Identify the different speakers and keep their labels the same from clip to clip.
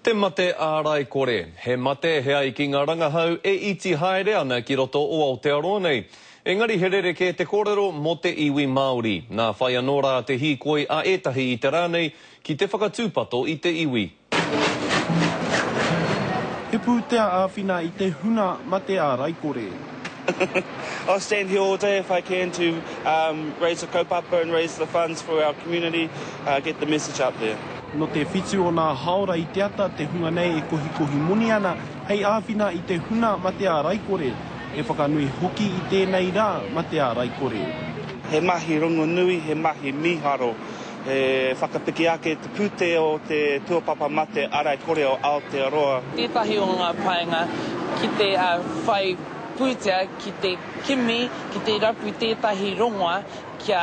Speaker 1: Te mate ārai kore. He mate, he ai ki ngā rangahau e iti haere ana ki roto o Aotearoa nei. Engari he rerekē te kōrero mō te iwi Māori. Nā whai anō rā te hīkoi a ētahi i te rā nei ki te whakatūpato i te iwi.
Speaker 2: He pūtea āwhina i te huna mate ārai kore.
Speaker 3: I'll stand here all day if I can to raise the kaupapa and raise the funds for our community, get the message out there. Nō te whitu o
Speaker 2: nā hāora i te ata te hunga nei e kohikohi moni ana hei āwhina i te huna ma te ārai kore, he whakanui hoki i tēnei rā ma te ārai kore. He mahi
Speaker 3: rongonui, he mahi mīharo, he whakapiki ake i te pūtea o te tuapapa ma te ārai kore o Aotearoa. Tētahi o ngā
Speaker 4: painga ki te whai pūtea, ki te kimi, ki te rapu tētahi rongoa kia.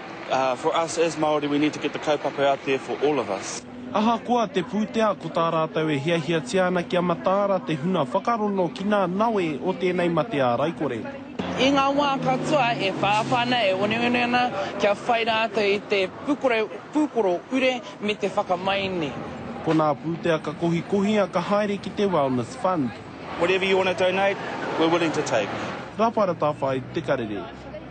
Speaker 3: For us as Māori, we need to get the kaupapa out there for all of us. Ahakoa te
Speaker 2: pūtea ko tā rātou e hiahiatia ana kia mataara te huna whakarono ki ngā nawe o tēnei matea raikore. I ngā wā
Speaker 4: katoa e whāwhā ana, e oneone ana kia whai rātou i te pūkoro ure me te whakamaini. Ko ngā
Speaker 2: pūtea ka kohikohia ka haere ki te Wellness Fund. Whatever
Speaker 3: you want
Speaker 2: to
Speaker 3: donate,
Speaker 2: we're
Speaker 3: willing to
Speaker 2: take. Raparatawhai
Speaker 3: Te
Speaker 2: Karere.